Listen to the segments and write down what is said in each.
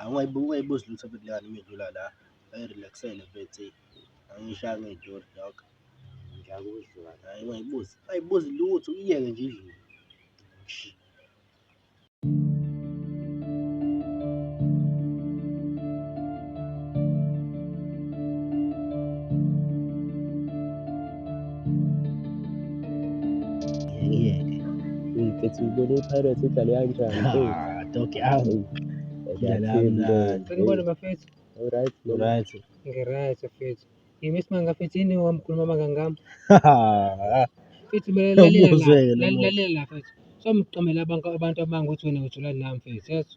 Awungayibuzi lutho futhi lengane uma idlula la ayi-relax-ele mfethu angiyishaya ngey'tori dog. Ngiyakuzwa. Hhayi ungayibuzi, ungayibuzi lutho uyiyeke nje idlule. Ngifethu ngibone iPirates idlale kanjani. Ah, dog awu. Idlala kamnandi. Sengibona bafethu. Alright. Alright. Ngiright bafethu. Yimi simanga bafethu yini wamkhuluma amangangami. Bafethu lalela la. Lalela la bafethu. Somqamela abantu abantu abanga ukuthi wena ujula nami bafethu.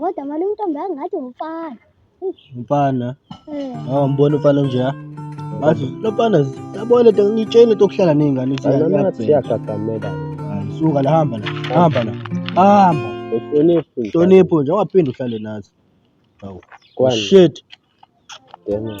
Kodwa mali umntombi angathi umfana. Umfana. Eh. Hawu mbona umfana nje ha? Bathi lomfana yabona into ngitshene tokuhlala nezingane ukuthi yagagamela. Suka la hamba la. Hamba la. Hamba. Uhlonipho. Uhlonipho nje ungaphinde uhlale nathi. Hawu. Shit. Damn.